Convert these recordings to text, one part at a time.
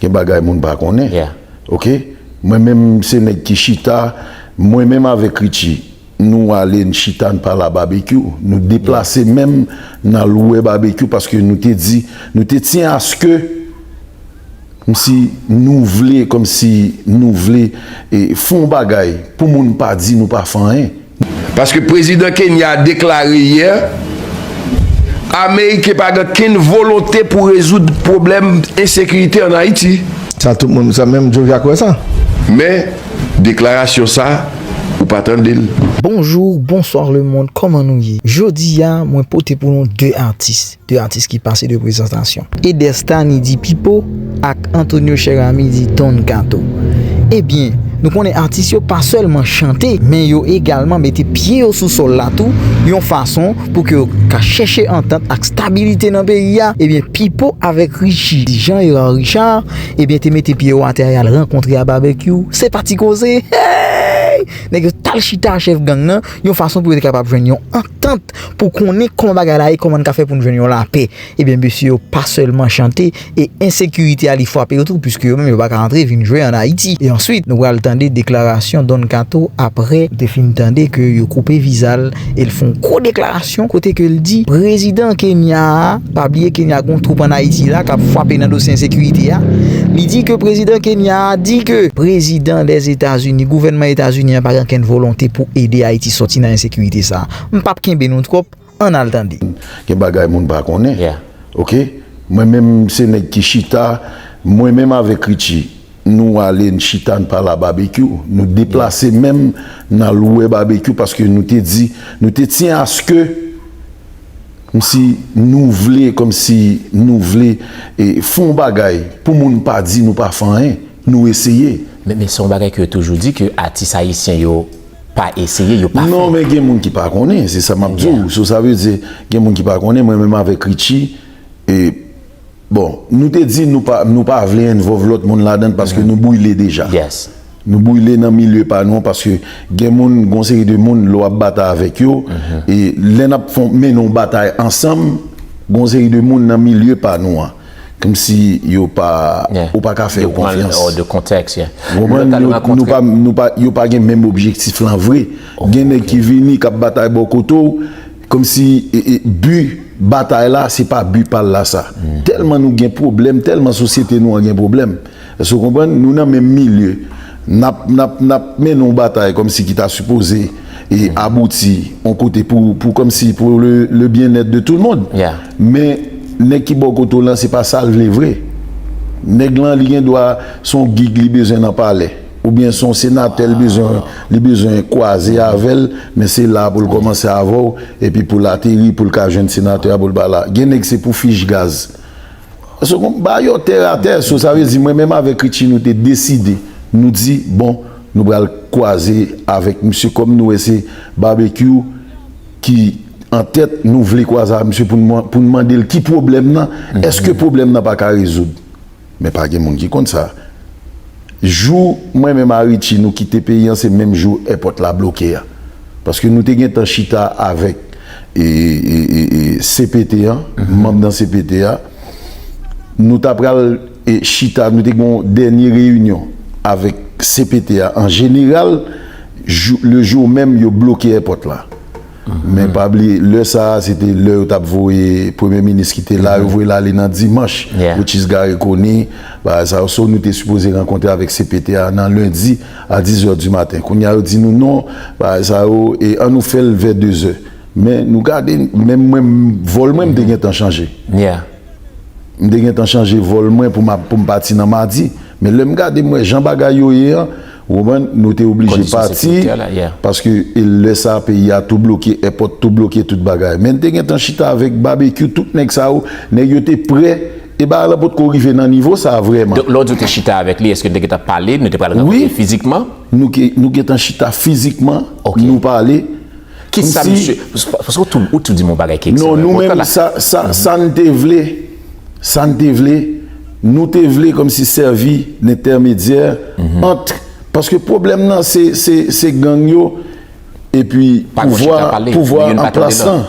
gen bagay moun pa konnen ok mwen menm se nèg ki chita mwen menm avèk Richie nou ale n chita n pale a Babekyou nou deplase menm n al wè Babekyou paske nou te di nou te tyen aske kòmsi nou vle kòmsi nou vle fon bagay pou moun pa di nou pa fè anyen. Paske prezidan Kenya a deklare yè Ameriken pa gen kenn volonte pou rezoud pwoblèm ensekirite an Ayiti. Sa tout moun, sa menm Joe Jacques wè sa? Men, deklarasyon sa, ou pa tande l. Bonjour, bonsoir le monde, kòman nou ye? Jodi a mwen pote pou nou 2 atis. 2 atis ki pase 2 prezantasyon. Eders Thani di Pipo ak Antonio Cheramy di Don Kato. Ebyen, nou konnen atis yo pa sèlman chante, men yo egalman mete pye yo sou sòl la tou, yon fason pou ke yo ka chèche antant ak stabilite nan peyi a, ebyen Pipo avèk Richi di Jean Herard Richard, ebyen te mete pye yo atè a yal rankontre a Babekyou, se pa ti koze! Heyy! Nèg yo tal chita a chèf gang nan, yon fason pou yo te kapab jwenn yon antant. Ejip pou konnen kòman bagay la ye, kòman n ka fè pou n jwenn yon lapè. Ebyen, mesye yo pa sèlman chante e ensekirite a li frape yo tou puiske yo menm yo pa ka antre vin jwe an Ayiti. E answit, nou pral tande deklarasyon Don Kato apre li te fin tande ke yo koupe viza l e l fè yon gwo deklarasyon kote ke l di prezidan Kenya a, pa bliye Kenya gen yon twoup an Ayiti la k ap frape nan dosye ensekirite a, li di ke prezidan Kenya a di ke prezidan Dèzetazini, gouvènman Etazini an pa gen okenn volonte pou ede Ayiti sòti nan ensekirite sa a. M pap kenbe nou twòp ann al tande. Gen bagay moun pa konnen ok mwen menm se nèg ki chita mwen menm avèk Richie nou ale n chita n pale a Babekyou nou deplase menm n al wè Babekyou paske nou te di nou te tyen aske kmsi nou vle kmsi nou vle fè yon bagay pou moun pa di nou pa fè anyen nou eseye. Men se yon bagay ke yo toujou di ke atis ayisyen yo. pa eseye yo pa fè. Non men gen moun ki pa konnen se sa map diw so sa vle di gen moun ki pa konnen mwen menm avèk Richie e bon nou te di nou pa nou pa vle envov lòt moun ladann paske nou brile deja nou brile nan milye pa nou paske gen moun gon seri de moun lè wap batay avèk yo e lè nap fon mennen yon batay ansanm gon seri de moun nan milye pa nou an. Kmsi yo pa, ou pa ka fè yo konfyans. Ou de kontèks, yeah. Ou konprann? Nou pa kontre. Nou pa, nou pa, yo pa gen menm objektif lan vre. Gen nèg ki vini, k ap batay bò kote w, kmsi e, e, bi batay la, se pa bi pa l la sa. Tèlman nou gen pwoblèm, tèlman sosyete nou an gen pwoblèm. Èske w konprann? Nou nan menm milye. N ap, n ap, n ap mennen yon batay kòmsi ki ta sipoze e abouti yon kote pou, pou kòmsi pou le, le byennèt de tou l mond. Men, nèg ki bò kote w lan se pa sa l vle vre. Nèg lan li gen dwa se yon gig li bezwen nan palè oubyen se yon senatè l bezwen, li bezwen kwaze avè l, men se la pou l kòmanse avè w epi pou l ateri pou l ka jwenn senatè a pou l ba la. Gen nèg se pou fich gaz Second, ba yo tè a tè, so sa vle di mwen menm avèk Richie nou te deside, nou di bon nou pral kwaze avèk misye kòm nou wè se Barbecue ki an tèt nou vle kwaze avèk misye pou n mande l ki pwoblèm nan, èske pwoblèm nan pa ka rezoud? Men pa gen moun ki konn sa. Jou mwen menm a Richie nou kite peyi an se menm jou èpòt la bloke a. Paske nou te gentan chita avèk cpt an, manm nan cpt a. Nou ta pral chita, nou te gen yon dènye reyinyon avèk cpt a an jeneral le jou menm yo bloke èpòt la. Men pa bliye lè sa a se te lè yo t ap voye premye minis ki te la yo voye l ale nan dimanch which is Garry Conille bagay sa yo so nou te sipoze rankontre avèk cpt a nan lendi a dizè di maten kounye a yo di nou non bagay sa yo e an nou fè l vè dezè men nou gade menm mwen vòl mwen m te gentan chanje m te gentan chanje vòl mwen pou m pati nan madi men lè m gade m wè jan bagay yo ye an. Ou konprann? Nou te oblije pati, paske lè sa peyi a tou bloke, èpòt tou bloke, tout bagay. Men n te gentan chita avèk Babekyou, tout nèg sa yo, nèg yo te prè, e bagay lan potko rive nan nivo sa vrèman. Donk lè w di w te chita avèk li, èske n te gentan pale, nou te pral rankontre fizikman? Wi, nou gentan chita fizikman, nou pale. Kisa misye, paske ou tou di m yon bagay ki ekstrèmman enpòtan la. Non, nou menm sa n te vle. sa n te vle, nou te vle kòmsi sèvi n entèmedyè ant, paske pwoblèm nan se gang yo epi pouvwa pouvwa an plas lan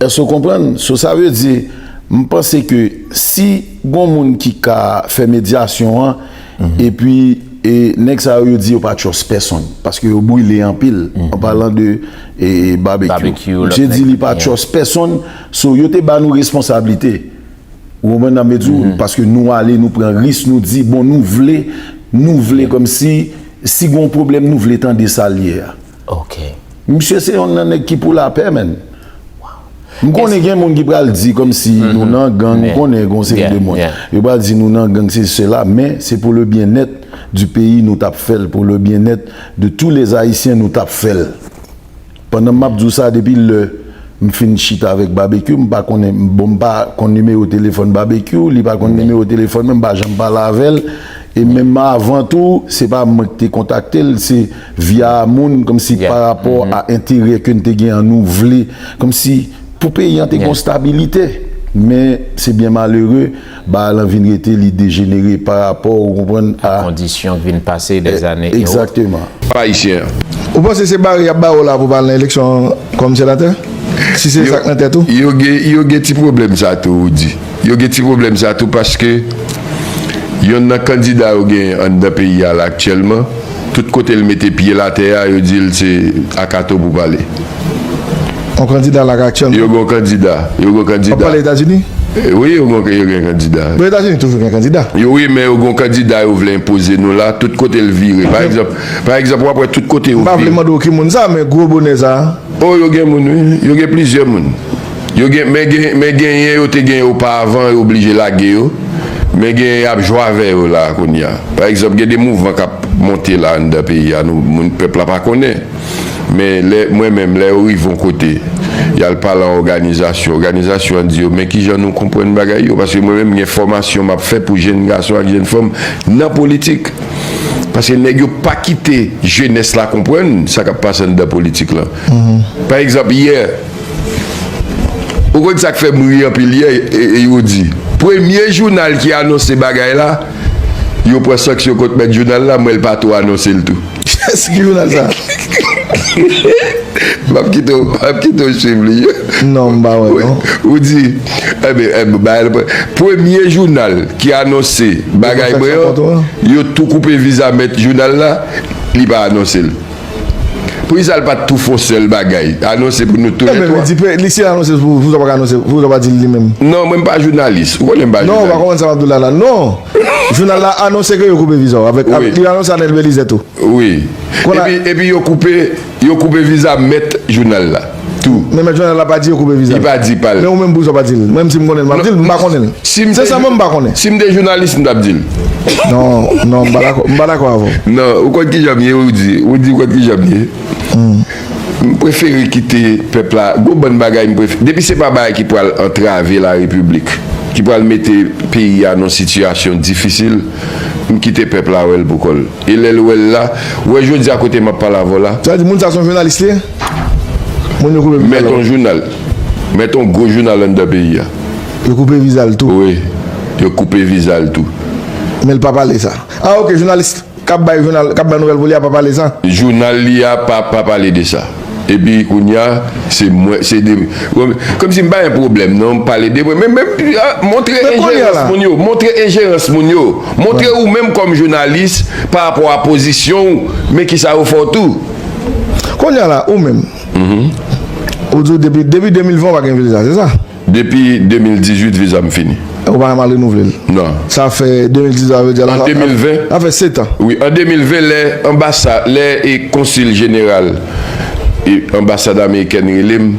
èske ou konprann, so sa vle di m panse ke si gon moun ki ka fè medyasyon an epi e nèg sa yo yo di yo pa trust pèsonn paske yo brile anpil an palan de Babekyou misye di li pa trust pèsonn. So yo te ba nou responsablite. Ou konprann nan mezou paske nou ale nou pran ris nou di bon nou vle nou vle kòmsi si gon pwoblèm nou vle tande sal ye a. Ok. Misye se yon nan nèg ki pou lapè menn. M konnen gen moun ki pral di kòmsi nou nan gang ou konnen gon seri de moun yo pral di nou nan gang sesi sela men se pou le byen nèt di peyi nou tap fèl pou le byen nèt de tou les ayisyen nou tap fèl. Pandan map di w sa depi lè m fin chita avèk Babekyou m pa konnen bon m pa konn nimewo telefòn Babekyou li pa konn nimewo telefòn mwen m pa janm pale avè l e menm avan tou se pa mwen ki te kontakte l se via moun kòmsi pa rapò a enterè ke n te gen an nou vle kòmsi pou peyi an te gon stabilite men se byen malere Baay lan vin rete li dejenere pa rapò ou konprann a. A kondisyon k vin pase dè zane e ot. Egzakteman. Pa Ayisyen an. Ou panse se bare y ap bare w la pou w pa al nan eleksyon kòm senatè? Si se sa k nan tèt ou? Yo gen yo gen ti pwoblèm sa tou ou di. Yo gen ti pwoblèm sa tou paske yonn nan kandida yo genyen anndan peyi a la aktyèlman, Tout kote l mete pye l atè a, yo di l se a Kato pou pale. Yon kandida la ka aktiyèlman. Yo gen yon kandida. Yo gen yon kandida. Wap pale Etazini? Wi, yo gen yon kandida. Bon, Etazini toujou gen kandida. Yo wi, men yo gen yon kandida yo vle enpoze nou la. Tout kote l vire. Pa egzanp, pa egzanp wap wè tout kote yo vire. M pa vle mande w ki moun sa, men gwo bonè sa. O, yo gen moun wi. Yo gen plizyè moun. Yo gen men gen men genyen yo te gen yo pa avan yo oblije lage yo men genyen yap jwe avè yo la kounya pa egzanp gen de mouvman kap monte la anndan peyi a nou moun pèp la pa konnen men lè mwen menm lè yo rive yon kote yal pale an òganizasyon òganizasyon an di yo men kijan nou konprann bagay yo paske mwen menm gen fòmasyon map fè pou jenn gason ak jenn fanm nan politik paske nèg yo pa kite jenès la konprann sa kap pase anndan politik lan pa egzanp yè. Ou konn sak fèm ri anpil yè yo di premye jounal ki anonse bagay la yo pran sanksyon kont mèt jounal la mwen l pa tou anonsel tou. Yes ki jounal sa? Map kite w map kite w swiv li. Non m pa wè non. Ou di Enben enben bagay la premye jounal ki anonse bagay mwen an yo tou koupe viza mèt jounal la li pa anonsel. Pou kisa l pat tou fon sèl bagay, anonse pou nou tou lè 3? Ebyen, men di, si l anonse, pou kisa w pa ka anonse, pou kisa w pa di l li menm? Non, mwen m pa jounalis, ou konnen m pa jounalis. Non, ou pa konprann sa m ap di w la la. Non! Jounal la anonse ke yo koupe viza w, avèk, avèk, li anonse Anel Belizaire tou. Wi. Epi, epi yo koupe, yo koupe viza mèt jounal la. Tou. Men mèt Jovenel la pa di yo koupe viza l. Li pa di pa l. Men ou menm poukisa w pa di l? Menm si m konnen l m ap di l. M pa konnen l. Se sèlman m pa konnen. Si m te jounalis m t ap di l. Non, non, m pa dakò, m pa dakò avè w. Non, ou konn kijan m ye ou di, ou di ou konn kijan m ye. M prefere kite pèp la, gwo bann bagay m prefere, depi se pa bagay ki pral antrave la repiblik, ki pral mete peyi a nan sitiyasyon difisil, m kite pèp la wè l pou kò l. E lèl wèl la, wè jodia kote map pale avèw la. Sa vle di moun sa son jounalis li ye? Moun yo koupe vizal ou? Met on jounal, met on gwo jounal anndan peyi a. Yo koupe vizal tou? Wi, yo koupe vizal tou. Menl pa pale sa? Ah ok, jounalis kap bay jounal, kap bay nouvèl pou li a pa pale sa? Jounal li a pa pa pale de sa. Epi kounya se mwen se de komsi mpa gen pwoblèm non m pale de mwen men men montre enjerans moun yo montre enjerans moun yo montre ou menm kòm jounalis pa rapò a pozisyon w men kisa yo fè w tou. Kounya la ou menm ou di w depi 2020 w pa gen viza se sa? Depi 2018 viza m fini. Ou pa janm renouvle l? Non. Sa fè 2018 sa vle di ala sa fè 7 an. Wi an 2020 lè anbasa lè e konsil jeneral e anbasad amerikèn rele m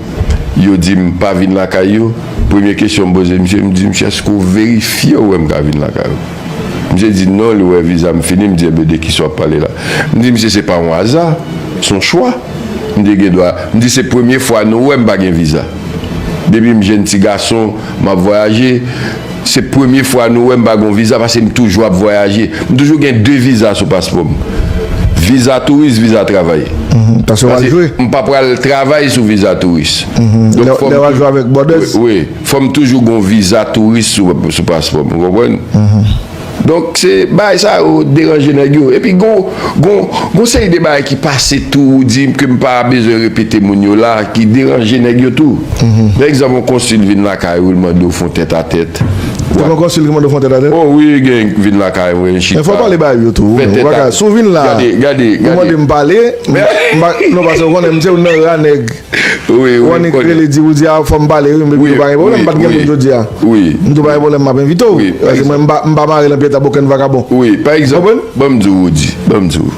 yo di m pa vin lakay yo premye kesyon m poze misye m di misye èske ou verifye ou wè m ka vin lakay ou? Misye di non li wè viza m fini m di enben de kisa w ap pale la? M di misye se pa yon aza s on chwa m di gen dwa m di se premye fwa nou wè m pa gen viza. Depi m jenn ti gason, m ap vwayaje. Se premye fwa nou wè m pa gen yon viza pase m toujou ap vwayaje. M toujou gen de viza sou paspò m. Viza touris, viza travay. Pase m pa pral travay sou viza touris. Lè w al jwe avèk Bòdès? Wi. Fò m toujou gen yon viza touris sou paspò m. Ou konprann? Donk se bagay sa yo deranje nèg yo. Epi gon gon gon seri de bagay ki pase tou ou di ke m pa bezwen repete moun yo la ki deranje nèg yo tou. Pa egzanp yon konsil vin lakay ou li mande w fon tèt a tèt. Te gen yon konsil ki mande w fon tèt a tèt? Oh wi gen yon ki vin lakay mwen chita. Men fò w pale bay yo tou. Fè tèt a. Si w vin la, ou mande m pale, m pa, non paske ou konnen m se youn nan ra nèg. Wannik rele di ou di a fòm pale wi mwen pa gen pwoblèm m pat gen moun jodi a m tou pa gen pwoblèm map envite w paske mwen m pa mare nan pye tab okenn vakabon ou konprann. Banm di w Roody banm di w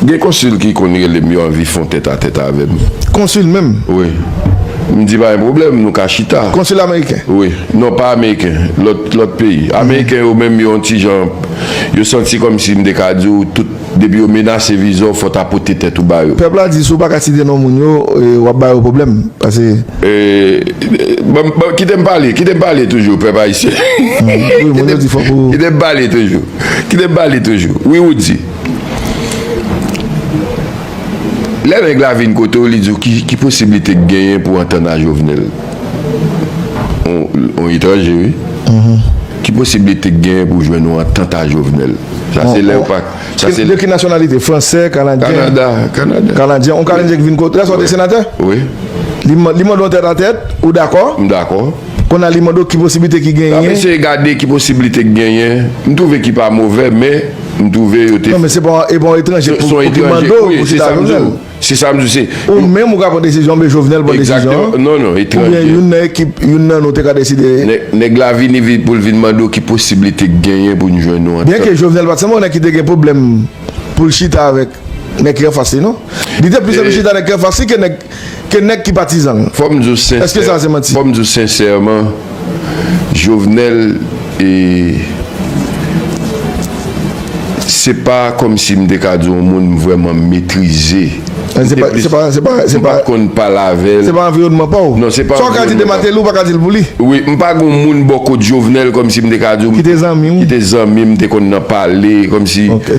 gen konsil ki konn rele m yo anvi fon tèt a tèt avè m. Konsil menm? Wi m di pa gen pwoblèm nou ka chita. Konsil ameriken? Wi non pa ameriken lòt peyi ameriken yo menm yo yon ti jan yo santi kòmsi m te ka di w tout Depi yo menase viza w fò ta pote tèt ou ba yo. Pèp la di si w pa ka site non moun yo, w ap ba yo pwoblèm. Pase. Eee kite m pale, kite m pale toujou pèp ayisyen. Wi moun yo di fòk ou. Kite m pale toujou, kite m pale toujou. Wi ou di. Lè nèg la vin kote w li di w ki posiblite k genyen pou w antann a Jovenel. On etranje wi. Ki posiblite k genyen pou jwenn yon antant a Jovenel? Sa se lè yo pa. De ki nasyonalite? Fransè, kanadyen? Kanada, kanadyen. Kanadyen. On kanadyen ki vin kote. Lè sa w te senatè? Wi. Li mande w tèt a tèt, ou dakò? M dakò. Kounye a li mande w ki posiblite ki genyen? Nan m eseye gade ki posiblite k genyen. M twouve ki pa movè men m twouve yo te. Non men se pa yon etranje pou ki mande w pou chita ak Jovenel. Se sa m di w se. Ou menm ou ka pran desizyon oubyen Jovenel pran desizyon. Exactement. Non, non, etranje. Oubyen youn nan ekip, youn nan nou te ka deside. Nèg la vini vin pou l vin mande w ki posiblite k genyen pou n jwenn yon antant. Byenke Jovenel pa t sanble yon nèg ki te gen pwoblèm pou l chita avèk nèg ki anfas li non. Li te plis anvi chita nèg ki anfas li ke nèg ki patizan l. Fò m di w sensè. Èske sa se manti? Fò m di w sensèman. Jovenel e se pa kòmsi m te ka di w yon moun m vrèman m metrize. An se pa, se pa, se pa, se pa. M pa t konn pale avè l. Se pa anviwònman pa w. Non se pa anviwònman. Sa w ka di de Mateli w pa ka di l pou li. Wi, m pa gen yon moun bò kot Jovenel kòmsi m te ka di w. Ki te zanmi w. Ki te zanmi m, te konn nan pale kòmsi. Ok.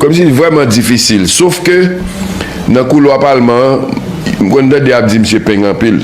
Kòmsi li vrèman difisil. Sof ke nan koulwa palman an, m konn tande y ap di misye peng anpil.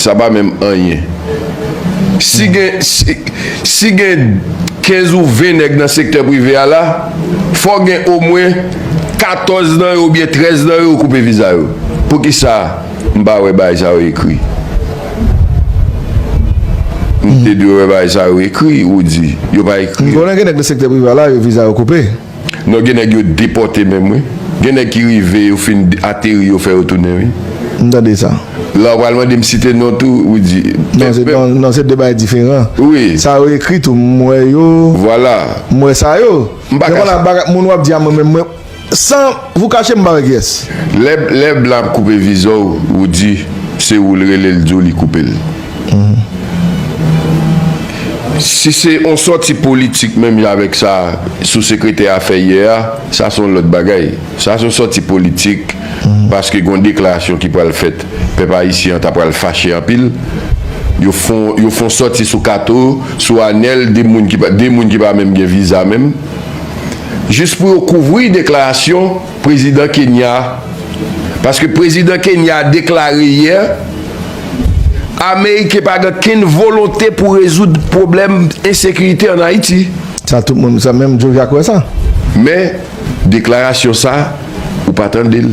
Sa pa menm anyen. Si gen si gen 15 ou 20 nèg nan sektè prive a la, fò gen omwen 14 nan yo oubyen 13 nan yo koupe viza yo. Poukisa m pa wè bagay sa yo ekri? M te dwe wè bagay sa yo ekri ou di yo pa ekri yo. M konnen gen nèg nan sektè prive a la yo viza yo koupe. Non gen nèg yo depòte menm wi. Gen nèg ki rive yo fin ateri yo fè yo tounen wi. M tande sa. La ou pral mande m site non tou ou di. Non se non se 2 bagay diferan. Wi. Sa yo ekri tou m wè yo. Vwala. M wè sa yo. M pa ka. Moun wap di a mwen menm mwen San vou kache m pa wè kiyès. Lè lè blan ap koupe vizò ou di se ou l rele l di w li koupe l. Si se yon sòti politik menm jan avèk sa sou-sekretè a fè yè a, sa se yon lòt bagay. Sa se yon sòti politik paske gen yon deklarasyon ki pral fèt. Pèp ayisyen an ta pral fache anpil. Yo fè yon, yo fè yon sòti sou Kato, sou Anèl, 2 moun ki pa, 2 moun ki pa menm gen viza menm. Jis pou yo kouvri deklarasyon. Prezidan Kenya a, paske Prezidan Kenya a deklare yè Ameriken pa gen kenn volonte pou rezoud pwoblèm ensekirite an Ayiti. Sa tout moun, sa menm Jovia kwè sa? Men, deklarasyon sa, ou pa tande l.